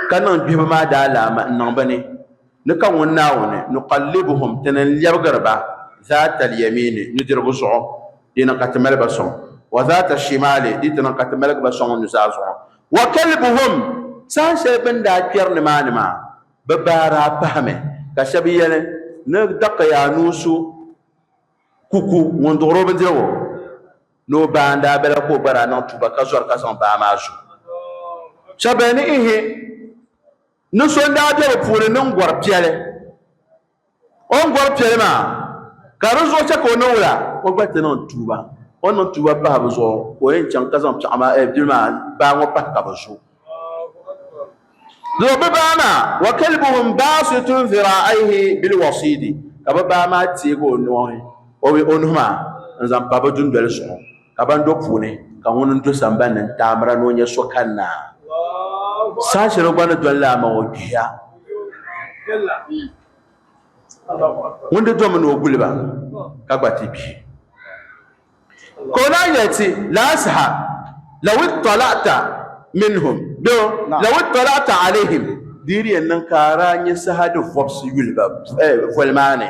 ka niŋ gbihibu maa daalaama n-niŋ bɛ ni, ni ka ŋun Naawuni, Nuqallibuhum, ti ni n-lɛbigiri ba, Zaata al-Yamiini, nudirigu zuɣu, di ni ka ti mali ba sɔŋ, wa Zaata al-Shimaali, di ti niŋ ka ti maligi ba sɔŋ nuzaa zuɣu, wa Kalbuhum, saha shɛli bɛ ni daa kpɛri nimaani maa. Bɛ baa daa pahimi ka shɛba yɛli, Ni dakiya anuu so ku ku ŋun duɣiri o bindirigu ni o baa n-daa bela ka o gba daa niŋ tuuba ka zɔri ka zaŋ baa maa zo. Shɛba beni ihi ni so n-daa be bɛ puuni niŋ gɔri piɛli. O ni gɔri piɛli maa, ka di zuɣu chɛ ka o ni wula, o gba ti niŋ tuuba. O ni niŋ tuuba pahi bɛ zuɣu, ka o yɛn chaŋ ka zaŋ piɛɣu maa, bili maa, baa ŋɔ pahi ka bɛ zo. Doo bɛ baa maa, wa kalbuhum baasitun dhiraa'ayhi bil wasiidi, ka bɛ baa maa teegi o nuhi, o nuhi maa, n-zaŋ pa bɛ dundoli zuɣu. ka ban do puuni ka ŋun n do sambani ni n taamira ni o nyɛ so kanna saha shɛli o gba ni doli laa maŋ o kpihiya ŋun di domi ni o guliba ka gba ti kpihi ka o lahi yɛli ti laa saha lawi talata minhum do lawi talata alihim di yɛn niŋ ka a daa nyɛ saha di vɔbisi yuli ba voli maa ni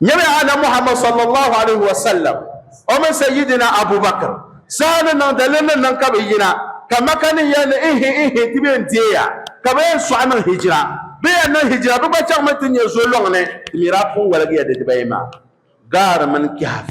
Nyɛmi Annabi Muhammad sallallahu alayhi wa sallam o mini Sayyidina Abu Bakr zaa ni niŋ daliri ni niŋ ka bɛ yina ka Makka nin yɛli ni ihi ihi ti bɛn deeya ka bɛ yɛn sɔɣi niŋ hijira. Bɛ yɛn niŋ hijira bɛ gba chaŋmi ti nyɛ zolɔŋni. Ti mi daa pun walgiya di dibayi maa, Gaar mini Kahf.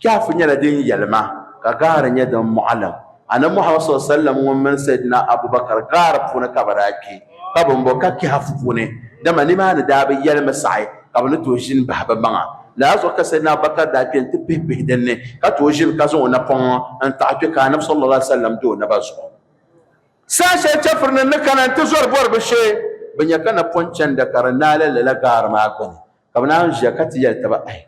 Kahf nyɛla din yɛlima ka gaari nyɛ din mɔɣilim. Anabi Muhammad sɔli sallam ŋun mini Saidina Abu Bakar gaari puuni ka bɛ daa kpe ka bɛ mbo ka Kahf puuni, dama nimaani daa bi yɛlimi saɣi ka bɛ ni tooi ʒini bahi bɛ maŋa. Lala zuɣu ka Saidina Abu Bakar daa kpe nti pihi bihi din ni ka tooi ʒini ka zaŋ o napɔŋ n-taɣi kpe ka Anabi sallallaahu alayhi wa sallam do o naba zuɣu. Saha shɛli chɛfuri nim ni kana nti zɔri bɔri bɛ shee, bɛ nya ka napɔn chanda ka di naai la lala gaari maa gbuni ka bɛ naan ʒiya ka ti yɛli taba, Ayi!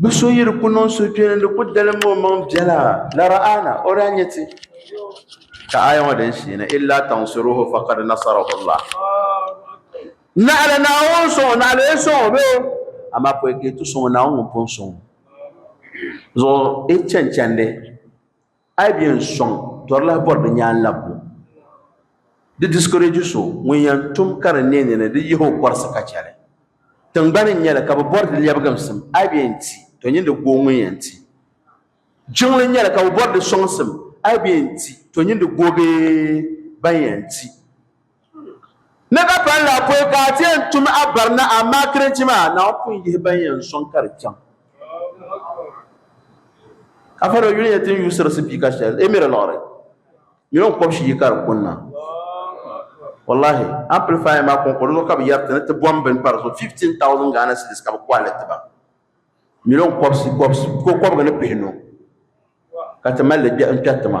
Bɛ so yi di ku niŋ suhupini di ku dalim o maŋ biɛla, la ra'ana, o daa nya ti. Ka aaya ŋɔ din sheeni, illa tansuruhu faqad nasarahu Allah. Naɣila Naawuni ŋun sɔŋ o, naɣila o yi sɔŋ o bɛ o, amaa pɔi ka yi ti sɔŋ o, Naawuni ŋun pun sɔŋ o zuɣu, yi chanchandi. A yi bi yɛn sɔŋ tɔrilahi bɔri di nyaanlabbu, di discourage so ŋun yɛn tum ka di neei ni di yihi o kɔrisi ka chɛ li. Tiŋgbani n-nyɛ li ka bɛ bɔri di lɛbigimsim, a yi bi yɛn ti, to nyin di gooi ŋun yɛn ti. Jiŋli n-nyɛ li ka bɛ bɔri di sɔŋsim, a yi bi yɛn ti, to nyin di gooi bee ban yɛn ti. Ni ka pali la pɔi ka a ti yɛn tum a barina amaa kirinchi maa Naawuni pun yihi ban yɛn sɔŋ ka di chaŋ. Ka Faro yuli yɛn ti n yuusiri sipiika shɛli emiri liɣiri ni o kɔbshi yi ka di kunna. Wallahi, amplifier maa kɔŋko di zuɣu ka bi yɛriti ni ti bɔm bini pa di zuɣu 15,000 Ghana cedis ka bi kɔhili ti ba miliyon kɔbisi kɔbisi ko kɔbiga ni pihinu ka ti mali li n kpɛri ti ma.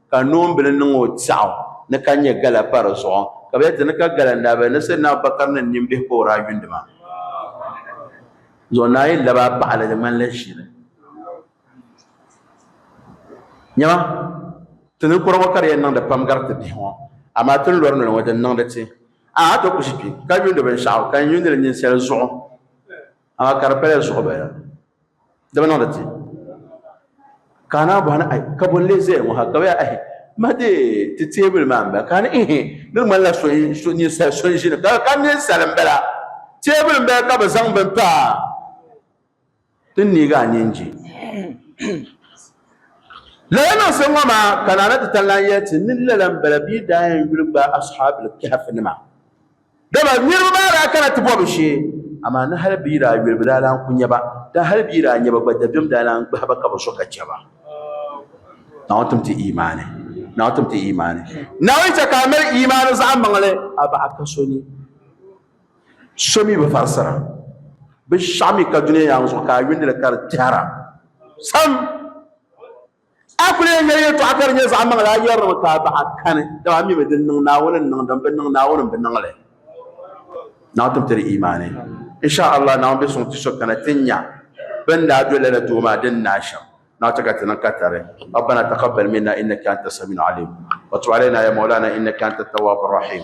ka noombili niŋ o tɛɣu ni ka nyɛ gala pa di zuɣu ka bɛ dini ka gala n-daa be ni Sayyidina Abubakar ni nimbihi ka o daa yundi maa zuɣu naayili laba paɣili di ŋmanila ʒili nyɛma ti ninkura ŋɔ ka di yɛn niŋdi pam gari ti bihi ŋɔ amaa ti ni lɔri noli ŋɔ di ni niŋdi ti a a ti ku ʒi kpi ka yuundi binshɛɣu ka n yuundi li ninsali zuɣu Amaa ka di pala zuɣu bala. Di bi niŋdi ti. Ka a naa bɔhi ni, Ai, ka bɔ n-lee zaya ŋɔ ha? Ka bɛ yaa, Ahi, ma deei ti teebuli maa m-bala. Ka a ni, Ihi, di ŋmanila so, ninsal so n-ʒi ni. Ka a ka ninsal m-bala. Teebuli m-bala ka bɛ zaŋ bini pa ti n neeg a nyin je. Lala niŋsim ŋɔ maa ka Naa na ti tan lan yɛli ti ni lala m-bala bɛ yi daa yɛn yuli gbaai Ashaabul Kahfinima. Dama niriba maa daa kana ti bɔbi shee, amaa ni hal bɛ yi daa yuli bɛ daa lan ku nya ba, dama hal bɛ yi daa nya ba gba dabiɛm daa lan gbahi ba ka bɛ so ka chɛ ba. Naawuni tim ti imaani. Naawuni tim ti imaani. Naawuni chɛ ka a mali imaani zaɣimaŋli a baɣa ka so ni so mi bi farisira binshɛɣu mi ka dunia yaŋ zuɣu ka a yuuni li ka di tɛhira sam. A kuli yɛn yɛli yɛltɔɣa ka di nyɛ zaɣ maŋli, a yɛrimi ka a bahi kani, dama a mimi din niŋ Naawuni ni niŋ din bi niŋ Naawuni m-bi niŋ li. Naawuni tum ti di imaani. Insha Allah Naawuni be suŋ ti so kana ti nya bɛn daa do lala duu maa din naai shɛm. Naa ti ka ti niŋ katari. Rabbana taqabbal minna innaka anta samiul alim wa tub alayna ya mawlana innaka anta tawwabur rahim.